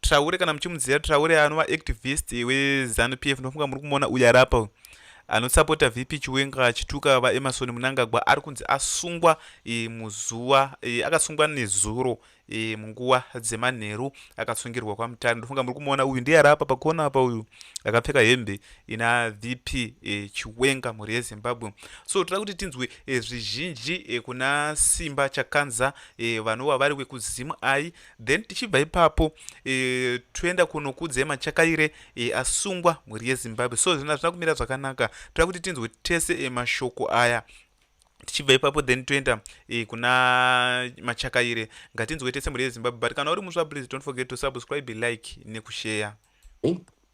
Traore kana muchimuziva Traore anova activist weZanu PF ndofunga muri kumuona uyu ari apa uyu anosapota VP Chiwenga achituka VaEmmerson Mnangagwa ari kunzi asungwa e, muzuva e, akasungwa nezuro e, munguva dzemanheru akasungirwa kwaMutare ndofunga muri kumuona uyu ndiye ari apa pakona apa uyu akapfeka hembe ina VP e, Chiwenga mhuri yeZimbabwe so toda kuti tinzwe e, zvizhinji e, kuna Simba Chakanza e, vanova vari wekuZim ai then tichibva ipapo e, toenda kunokudzai machakaire e, asungwa mhuri yezimbabwe so zvinhu hazvina kumira zvakanaka toda kuti tinzwe tese e, mashoko aya tichibva ipapo then toenda e, kuna machakaire ngatinzwe tese mhuri yezimbabwe but kana uri musva please don't forget to subscribe like nekusheya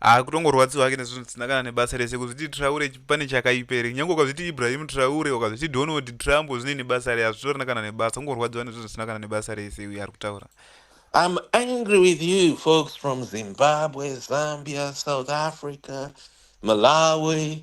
ah kutongorwadziwa hake nezvinhu zvisina kana nebasa rese kuzviti traure pane chakaipa here nyange ukazviti ibrahim traure ukazviti donald trump zvine nebasa re hazvitorina kana nebasa kungorwadziwa nezvinhu zvisina kana nebasa rese uye ari kutaura I'm angry with you folks from Zimbabwe, Zambia, South Africa, Malawi,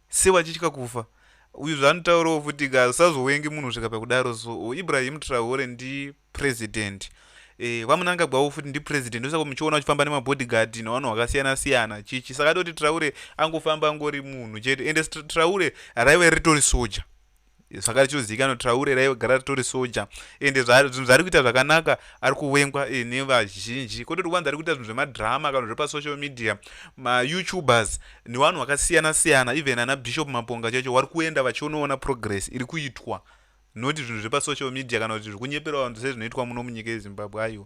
Sei vachitya kufa? Uyu zvaanotaurawo futi ka usazowengi munhu kusvika pakudaro so oh, Ibrahim Traore ndi president eh, vamunangagwawo futi ndi president ndosaka muchiona uchifamba nemabodyguard nevanhu vakasiyana siyana chichi saka toti Traore angofamba angori munhu chete ende Traore raive ritori soja saka richizozivikanwa kuti traure raive gara ritori soja ende zvinhu zvaari kuita zvakanaka ari kuvengwa eh, nevazhinji kwete kuti wanzi ari kuita zvinhu zvemadrama kana zvepasocial media mayoutubers newanhu wakasiyana siyana even ana bishop maponga chacho wari kuenda vachionoona progress iri kuitwa noti zvinhu zvepasocial media kana kuti zviri kunyepera vanhu sezvinoitwa muno munyika yezimbabwe aiwa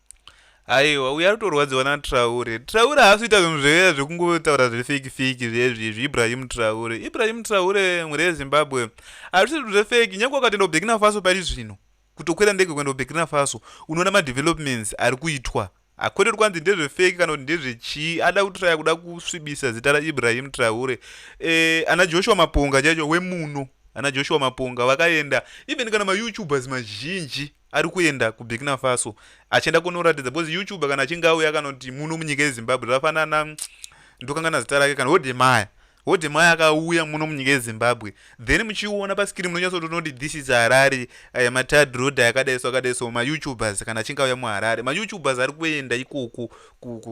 aiwa uyo ari kutorwadziwa natraure traure haasi kuita zvinhu zvee zvekungotaura zvefeki feki zvezvi izvi ibrahim traure ibrahim traure mhuri yezimbabwe hazvisi zvinhu zvefeki nyange wakatoenda kuburkina faso pari zvino kutokwira ndege kuenda kuburkina faso unoona madevelopments ari kuitwa hakwete kuti kwanzi ndezvefeki kana kuti ndezvechii ada kutraya kuda kusvibisa zita raibrahim traure e, ana joshua maponga chaicho wemuno ana joshua maponga vakaenda even kana mayoutubers mazhinji ari kuenda kuburkina faso achienda kunoratidza because youtube kana achinge auya akanoti muno munyika yezimbabwe zvafanana ndokangana zita rake kana hodemaya hodemaya akauya muno munyika yezimbabwe then muchiona paskiri munonyatsotonoti this is harare eh, matad road akadai so akadai so mayoutubers kana achinge auya muharare mayoutubers ari kuenda ikoko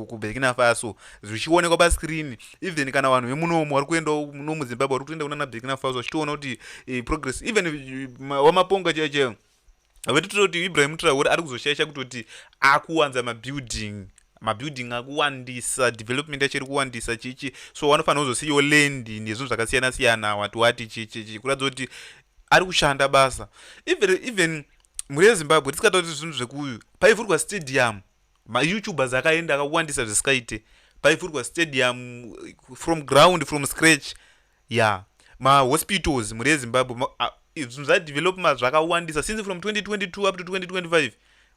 kuburkina faso zvichionekwa pascreen even kana vanhu vemunomo vari kuenda muno muzimbabwe vari kutoenda kunana burkina faso vachitoona kuti eh, progress even eh, wamaponga chaicheo vati toti ibrahim traore ari kuzoshaisha kutoti akuwanza mabuilding mabuilding akuwandisa development yacho iri kuwandisa chichi so wanofanira kuzosiyiwo land nezvinhu zvakasiyana siyana wati wati chichichi kuratidza kuti ari kushanda basa even, even mhuri yezimbabwe tisikatauri zvinhu zvekuyu paivhurwa stadium mayoutubers akaenda akawandisa zvisikaite paivhurwa stadium from ground from scratch Ya ma hospitals mhuri yezimbabwe zvinhu zvadevelopma zvakawandisa since from 2022 up to 2025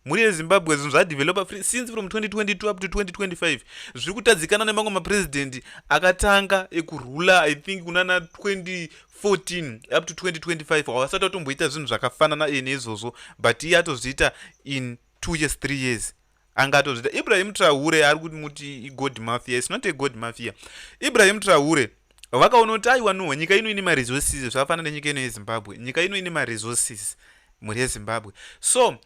mhuri yezimbabwe zvinhu zvadevelopa since from 2022 up to 2025 zviri kutadzikana nemamwe maprezidenti akatanga ekurula i think kunana 2014 up to 2025 havasati vatomboita zvinhu zvakafanana iye neizvozvo but iye atozviita in two years three years angatozvita ibrahim trahure ari kuti muti igod mafia is not a god mafia ibrahim trahure vakaona kuti aiwa no nyika ino ine maresources zvakafanana nenyika ino yezimbabwe nyika ino ine maresources mhuri yezimbabwe so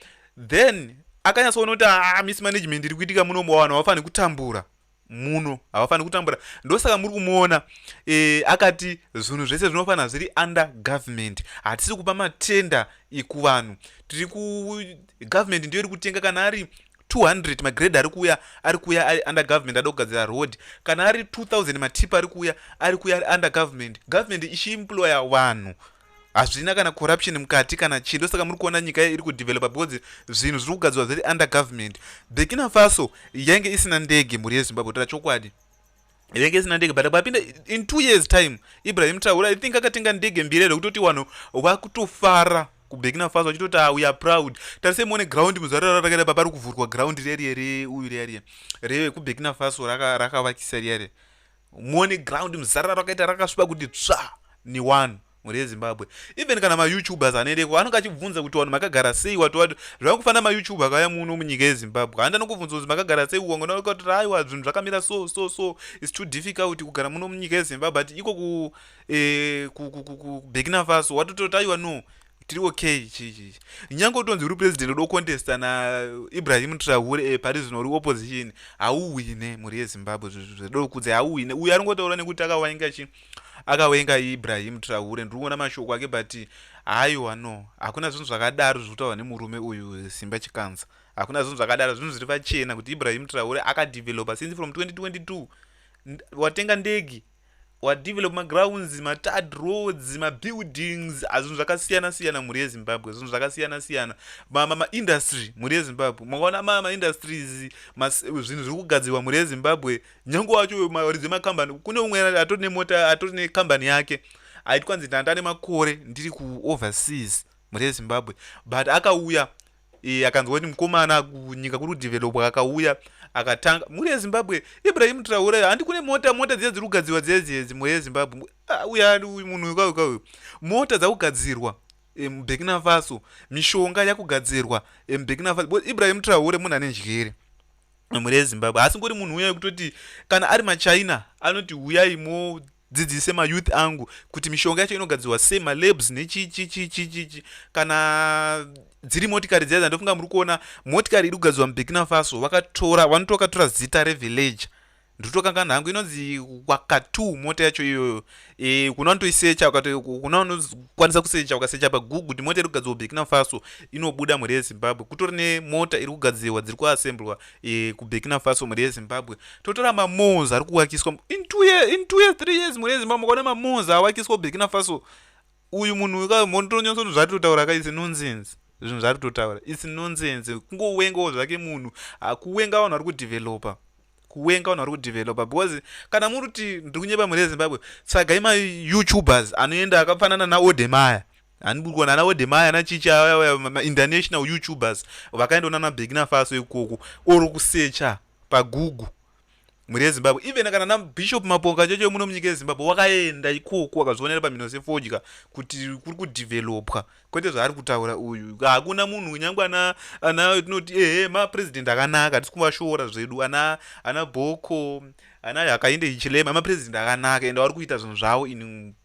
then akanyatsoona kuti ah, mismanagement iri kuitika munomo vanhu havafaniri kutambura muno havafaniri kutambura ndosaka muri kumuona e, akati zvinhu zvese zvinofanira zviri under government hatisi kupa matenda ekuvanhu tiri kugovernment ndiyo iri kutenga kana ari 200 magrade ari kuuya ari kuuya ari under government ada kugadzira road kana ari 2000 matipa ari kuuya ari kuuya ari under government government ichiimploya vanhu hazvina kana corruption mukati kana chii ndosaka muri kuona nyika iri kudevelopa because zvinhu zviri kugadzirwa zviri under government burkina faso yainge isina ndege mhuri yezimbabwe tara chokwadi yainge isina ndege but papinda in two years time ibrahim traura i think akatenga ndege mbiri ere kutoti vanhu vakutofara kuburkina faso vachitoti ah, we are proud tarisei muone ground muzvarara rakaita papari kuvhurwa ground riya riya reuyu riya riya rekuburkina faso rakavakisa riya riya muone ground muzarara rakaita rakasviba kuti tsva ni one mhuri yezimbabwe even kana mayoutubers anoendeko anonge achibvunza kuti vanhu makagara sei watowato zvava kufanira mayoutube akauya muno munyika yezimbabwe handa nokubvunza kuti makagara sei wangonaukati aiwa zvinhu zvakamira so so so its too difficult kugara muno munyika yezimbabwe but iko ku eh, kubekina faso watototi aiwa no tiri okay chichi nyange utonzi uri president udo contesta naibrahim trahure eh, pari zvino uri opposition hauwine mhuri yezimbabwe zvedokudza hauwine uyo ari ngotaura nekuti akawainga chi akawainga ibrahim trahure ndiri kuona mashoko ake but haiwa no hakuna zvinhu zvakadaro zviri kutaurwa nemurume uyu simba chikanza hakuna zvinhu zvakadaro zvinhu zviri pachena kuti ibrahim trahure akadevelopa since from 2022 watenga ndege wadevelop magrounds matad roads mabuildings azvinhu zvakasiyana siyana mhuri yezimbabwe zvinhu zvakasiyana siyana maindustry mhuri yezimbabwe makaona maindustries zvinhu zviri kugadzirwa mhuri yezimbabwe nyange wacho maridzi emakambani kune umwe atori nemota atori nekambani yake aitwa nzi ndanda nemakore ndiri kuoverseas mhuri yezimbabwe but akauya e, akanzwa kuti mukomana kunyika kuri kudevelopwa akauya akatanga mhuri yezimbabwe ibrahim traure handi kune mota mota dziya dziri kugadzirwa dziya dziedzi mhuri yezimbabwe ah, uya munhu uyu kauyu kauyu mota dzakugadzirwa e, mubekina faso mishonga yakugadzirwa e, mubekina faso ibrahim traure munhu ane njere mhuri yezimbabwe haasi ngori munhu uya wekutoti kana ari machina anoti huyai mo dzidzise ma youth angu kuti mishonga yacho inogadzirwa sei ma labs nechichichichichichi kana dziri motikari dziya dzandofunga muri kuona motikari iri kugadzirwa muburkina faso vakatora vanotokatora zita revillager ndotokangana hangu inonzi wakatu mota yacho iyoyo e, kuna unotoisecha kuna unokwanisa kusecha ukasecha pagugu kuti mota iri kugadzirwa burkina faso inobuda mhuri yezimbabwe kutori nemota iri kugadzirwa dziri kuassemblwa e, kuburkina faso mhuri yezimbabwe totora mamons ari kuwakiswa in two years, in two years three years mhuri yezimbabwe mukaona mamons awakiswa kuburkina faso uyu munhu wekamonotonyatso zvinhu zvaari totaura ka isi nonsense zvinhu zvaari totaura isi nonsense kungowengawo zvake munhu ah, kuwenga vanhu vari kudevelopa kuwenga vanhu vari kudevelopa because kana muri kuti ndiri kunyeba mhuri yezimbabwe tsvagai mayoutubers anoenda akafanana naodemaya handiburi kuona ana wedemai ana chicha mainternational youtubers vakaenda unana begina faso ikoko or kusecha pagugu mhuri yezimbabwe even kana nabishop maponga chocho muno munyika yezimbabwe wakaenda ikoko wakazvionera pamhino sefodya kuti kuri kudevelopwa kwete zvaari kutaura uyu hakuna munhu nyangwe ana ana tinoti ehe mapresident akanaka tisi kuvashora zvedu ana ana boko ana yakainde ichilema mapresident akanaka ende vari kuita zvinhu zvavo in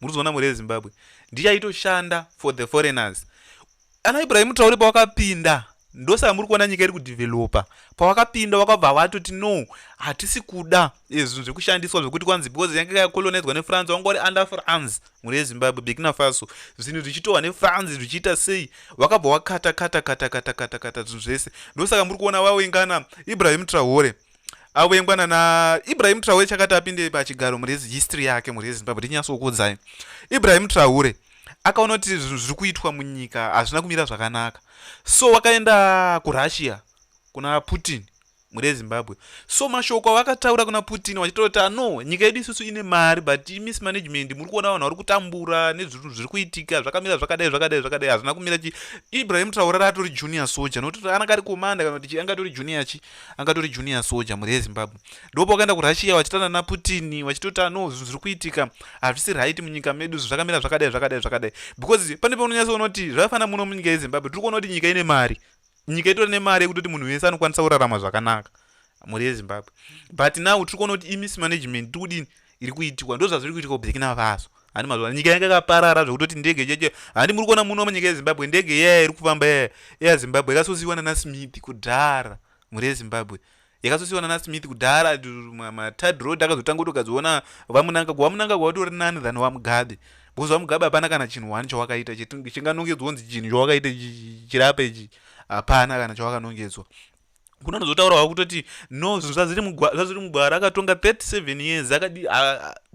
murikuzoona mhuri yezimbabwe ndichaitoshanda for the foreigners ana ibrahim traure pawakapinda ndosaka muri kuona nyika iri kudevelopa pawakapinda wakabva watoti no hatisi kuda eh, zvinhu zvekushandiswa zvekuti kwanzi because yange yakolonizwa nefrance wanga uri under france mhuri yezimbabwe bekina faso zvinhu zvichitohwa nefrance zvichiita sei wakabva wakata kata kata kata kata kata zvinhu zvese ndosaka muri kuona wawengana ibrahim trahore avengwana na ibrahim traure chakati apinde pachigaro murezi history yake murezi zimbabwe tinyatsokuudzai ibrahim traure akaona kuti zvinhu zviri kuitwa munyika hazvina kumira zvakanaka so wakaenda kurussia kuna putin murezi zimbabwe so mashoko avakataura kuna putin vachitaura kuti ano nyika yedu isusu ine mari but miss management muri kuona vanhu vari kutambura nezvinhu zviri kuitika zvakamira zvakadai zvakadai zvakadai hazvina kumira chi ibrahim traure raatori junior soja nokuti anaka ari komanda kana kuti angatori junior chii angatori junior soja mhuri yezimbabwe ndopa wakaenda kurussia wachitana naputini wachitota no zvinhu zviri kuitika hazvisi right munyika medu zvakamira zvakadai zvakadai zvakadai because pane paunonyatsa kuona kuti zvakafanira muno munyika yezimbabwe tiri kuona kuti nyika ine mari nyika itori nemari yekutoti munhu wese anokwanisa kurarama zvakanaka mhuri yezimbabwe but now tiri kuona kuti imismanagement tiri kudini iri kuitikwa ndozvazviri kuitikwa kuburkina faso handi mazuva nyika yanga yakaparara zvekutoti ndege cheche handi muri kuona muno munyika yezimbabwe ndege yaya iri kufamba yaya eyazimbabwe yakasosiwa nanasmith kudhara mhuri yezimbabwe yakasosiwa nanasmith kudhara matid road akazotanga kutogadziona vamunanga kuvamunanga kwawatori nani than vamugabe because vamugabe hapana kana chinhu wani chawakaita chinganongedzwa kunzi chinhu chawakaita chirape ichi hapana kana chawakanongedzwa kuno anozotaurawo kutoti no zvinhu zvaziri mugwara akatonga 37 years akadi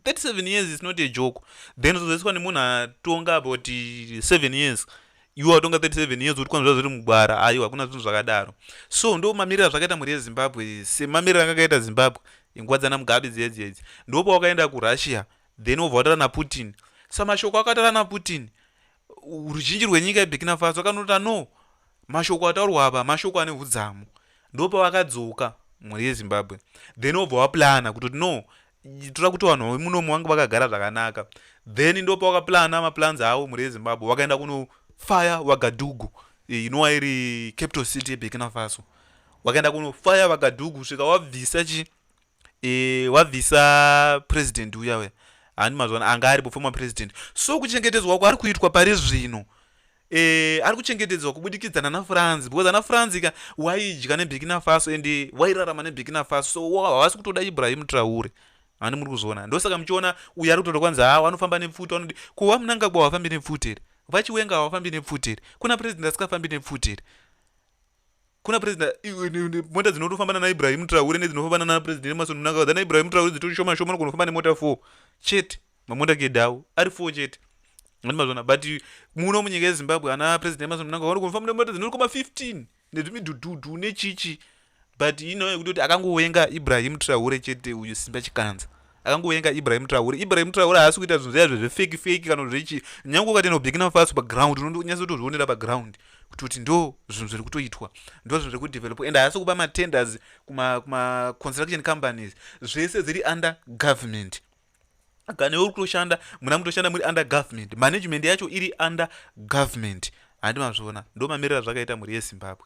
37 years is not a joke then uzozoiswa nemunhu atonga about 7 years iwe watonga 37 years utikwa zvazviri mugwara aiwa hakuna zvinhu zvakadaro so ndo mamirira zvakaita mhuri yezimbabwe semamirira anga akaita zimbabwe inguva dzana mugabe dziedzi edzi ndo pawakaenda kurussia then wobva wataura naputin samashoko akataura naputin ruzhinji rwenyika yeburkina faso akanoti ano mashoko ataurwa apa mashoko ane hudzamu ndopavakadzoka mhuri yezimbabwe then obva waplana kutoti no toda kuti vanhu vemunomu vange vakagara zvakanaka then ndopa wakaplana maplans avo mhuri yezimbabwe vakaenda kunofaya wagadugu e, inova iri capital city yeburkina faso wakaenda kunofaya vagadugu svika wabvisa chi e, wabvisa president uya uya hani mazwana anga aripo former president so kuchengetedzwa kwaari kuitwa pari zvino e, ari kuchengetedzwa kubudikidza nana france because ana france ka waidya nebhikina faso and wairarama nebhikina faso so havasi kutoda ibrahim traure hani muri kuzviona ndosaka muchiona uyo ari kutoda kwanzi hawo anofamba nepfuti vanodi ko vamunangagwa wafambi nepfuti here vachiwenga hawafambi nepfuti here kuna president asingafambi nepfuti here kuna president mota dzinotofamba nana ibrahim traure nedzinofamba nana president emerson mnangagwa dzana ibrahim traure dzitori shoma shoma nogonofamba nemota four chete mamota kede awo ari four chete andimazvona but muno munyika yezimbabwe ana president emerson mnangagwa vanogonofamba nemota dzinoti koma 15 nezvimidhudhudhu nechichi but ino yekuti kuti akangowenga ibrahim traure chete uyu simba chikanza akangovenga ibrahim traure ibrahim traure haasi kuita zvinhu zviya zvezvefeki feki kana zvechi nyange ukati nobekina fasi paground unonyasa kutozvionera paground kuti kuti ndo zvinhu zviri kutoitwa ndo zvinhu zviri kudevelopa and haasi kupa matenders kumaconstruction kuma companies zvese zviri under government kana uri kutoshanda muna mutoshanda muri under government management yacho iri under government handi mazviona ndo mamirira zvakaita mhuri yezimbabwe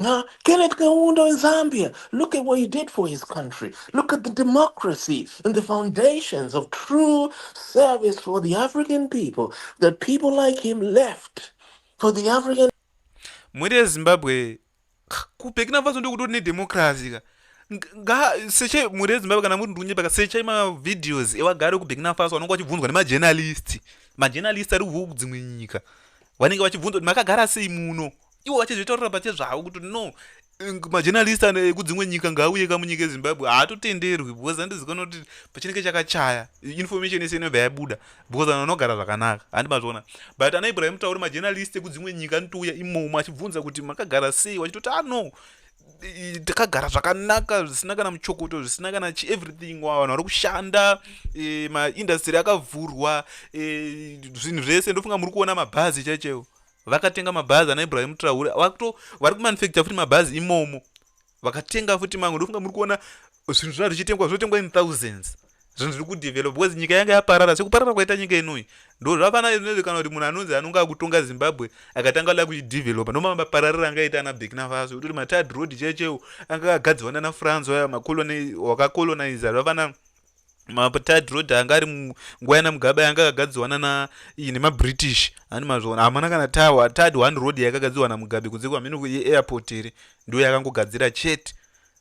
Now, Kenneth Kaunda in Zambia, look at what he did for his country. Look at the democracy and the foundations of true service for the African people that people like him left for the African. Mwere ya Zimbabwe, kupeki na vazo ndokutori ne democracy ka. Nga seche mwere ya Zimbabwe kana muri ndunye baka seche ma videos ewa gare ku Burkina Faso anongo achibvunzwa ne ma journalist. Ma journalist ari kuvuku dzimwe nyika. Wanenge wachibvunzwa makagara sei muno. iwo vachizvitorora pachezvavo kuti no majournalist ekudzimwe nyika ngaauye ka munyika yezimbabwe haatotenderwi because andizikona kuti pachinenge chakachaya information yese inobva yabuda because vanhu vanogara zvakanaka handi mazviona but ana ibrahim tauri majournalist ekudzimwe nyika anotouya imomo achibvunza kuti makagara sei vachitoti ano ah, takagara zvakanaka zvisina kana muchokoto zvisina kana chieverything wa vanhu vari kushanda e, maindastry akavhurwa e, zvinhu zvese ndofunga muri kuona mabhazi chaichaiwo vakatenga mabhazi ana ibrahim traure vakuto vari kumanufacture futi mabhazi imomo vakatenga futi mamwe ndofunga muri kuona zvinhu zvina zvichitengwa zvinotengwa in thousands zvinhu zviri kudevelop because nyika yanga yaparara sekuparara kwaita nyika inoi ndo zvafana izvinozi kana kuti munhu anonzi anonge akutonga zimbabwe akatanga la kuchidevelopa nomama pararira anga aita ana burkina faso kutoti matad road checheo anga akagadzirwa nana france aya wakacoloniza zvafana mapatad road anga ari nguva yana mugabe yanga akagadzirwa nana iyi nemabritish hani mazviona hamana kana tawa tad one road yakagadzirwa namugabe kunze kwamheno kuairport here ndo yakangogadzira chete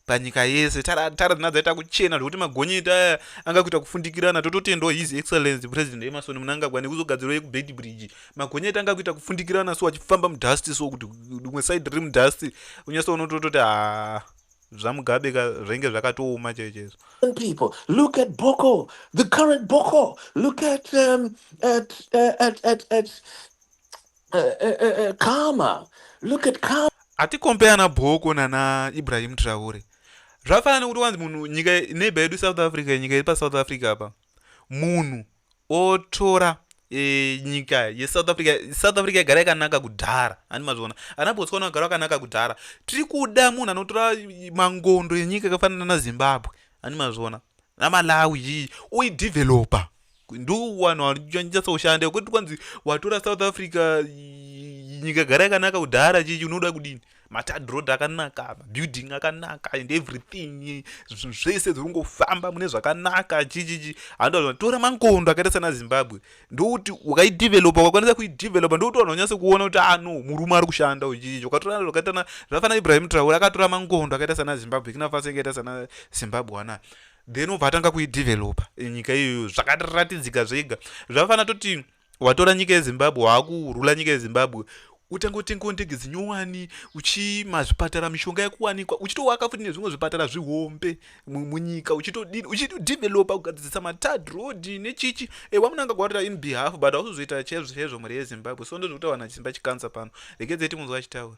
panyika yese tara dzina dzaita kuchena zvekuti magonyeti aya anga kuita kufundikirana tototendwa his excellence president emerson munangagwa nekuzogadzirwa yekubed bridge magonyeti anga kuita kufundikirana so achifamba mudust so kuti rimwe side riri mudust unyasoona tototi haa zvamugabe ka zvainge zvakatooma chaiyo chaizvo people look at boko the current boko look at um, at, uh, at, at, at uh, uh, uh, uh, kama look at kama atikompeya na boko nana ibrahim traure zvafanana nekuti wanzi munhu nyika neighbor yedu south africa nyika iri pasouth africa apa munhu otora e, nyika yesouth africa south africa yagara yakanaka kudhara ani mazviona ana botswana vagara vakanaka kudhara tiri kuda munhu anotora mangondo yenyika yakafanana nazimbabwe ani mazviona namalawi iyi oidevelopa ndiwanhu wanyatsoshanda kwekuti kwanzi watora south africa nyika yagara yakanaka kudhara chichi unoda kudini matad road akanaka mabuilding akanaka and everything zvinhu zvese dziri kungofamba mune zvakanaka chichichi handoa tora mangondo akaita sana zimbabwe ndokuti ukaidevelopa ukakwanisa kuidevelopa ndokuti vanhu vanyase kuona kuti ano ah, murume ari kushanda uchichichi ukatora zvakaitana zvafana ibrahim traure akatora mangondo akaita sana zimbabwe kinafasi akaita sana zimbabwe ana then obva atanga kuidevelopa nyika iyoyo zvakatiratidzika zvega zvafanira toti watora nyika yezimbabwe waakurula nyika yezimbabwe utange utengewo ndege dzinyowani uchimazvipatara mishonga yakuwanikwa uchitowaka futi nezvimwe zvipatara zvihombe munyika uchitodini uchitodevelopa kugadzirisa matad road nechichi ewa muna angagwarira in behalf but ausizoita chaizvo chaizvo mhuri yezimbabwe so ndozvekutaura nachimba chikansa pano rekedzeiti munzwa achitaura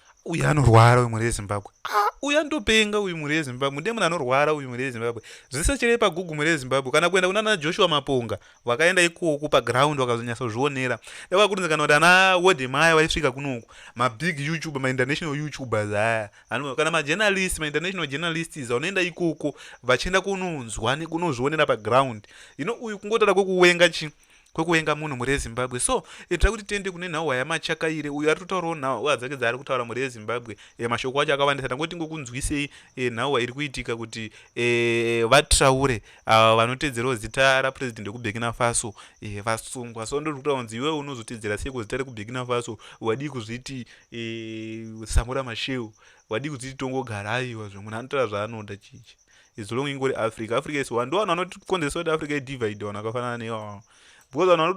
uyu anorwara uyu mhuri yezimbabwe ah, uyu anotopenga uyu mhuri yezimbabwe ndiye munhu anorwara uyu mhuri yezimbabwe zvese chirei pagugu mhuri yezimbabwe kana kuenda kunana joshua maponga vakaenda ikoku paground vakazonyatsozvionera davakurinzikana kuti ana wode maya vaisvika kunoku mabig youtube mainternational youtubers aya kana majournalist mainternational journalists anoenda ikoko vachienda kunonzwa nekunozvionera paground ino uyu kungotora kwekuwenga chi kwekuvenga munhu mhuri yezimbabwe so ita kuti tiende kune nhauwa yamachakaire uyo ari totaurawo nhauwa dzake dzaari kutaura mhuri yezimbabwe e, mashoko acho akawandisa tangoti ngokunzwisei e, nhauwa iri kuitika kuti e, vatraure ava vanotedzerawo zita rapurezidendi wekubekina faso e, vasungwa so ndiri kutaura kunzi iwewe unozotedzera sei kuzita rekubekina faso wadii kuzviti e, samura masheu wadii kuzviti tongogara aiwa zve munhu anotaura zvaanoda chichi as long ingori africa africa is one ndowanhu vanotikonzeresa kuti africa idivide vanhu vakafanana neiwawa because vanhu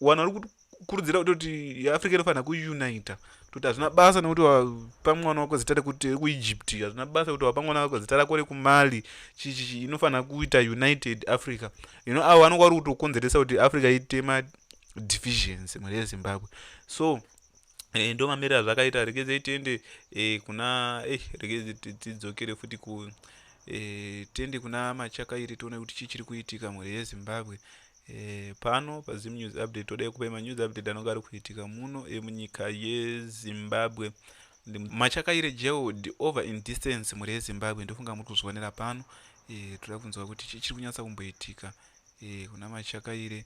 vari kukurudzira kutoti africa inofanira kuunita toti hazvina basa nekuti wapa mwana wako zita rekuti rekuegypt hazvina basa kuti wapa mwana wako zita rako rekumali chichichi inofanira kuita united africa you know avo vanonga vari kutokonzeresa kuti africa itema divisions mhuri yezimbabwe so e, ndo mamiriro azvakaita regedzei tiende e, kuna e, regedze tidzokere futi ku e, tiende kuna machaka iri tione kuti chii chiri kuitika mhuri yezimbabwe e, pano pazim news update todai kupai manews update anonge ari kuitika muno emunyika yezimbabwe machakaire jeod over in distance mhuri yezimbabwe ndofunga muri kuzvionera pano e, toda kunzwa kuti chii chiri kunyatsa kumboitika e, kuna machakaire e,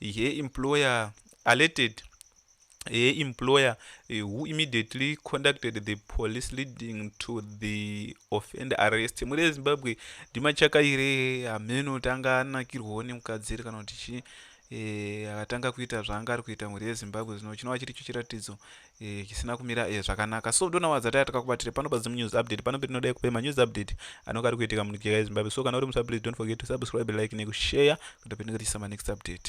he employer alerted he employer eh, who immediately conducted the police leading to the offend arrest mhuri yezimbabwe ndimachaka ire hameno tanga anakirwawo nemukadzi iri kana kuti chii Eh, akatanga kuita zvaanga ari kuita mhuri yezimbabwe zvino chinova chiri cho chiratidzo Eh, chisina kumira eh, zvakanaka so dona wadza taya takakubatire pano pazim news update pano petinoda yekupe manews update anonga ari kuitika munyika yezimbabwe so kana uri musa please don't forget to subscribe like nekushare kuti petinenge tichisa manext update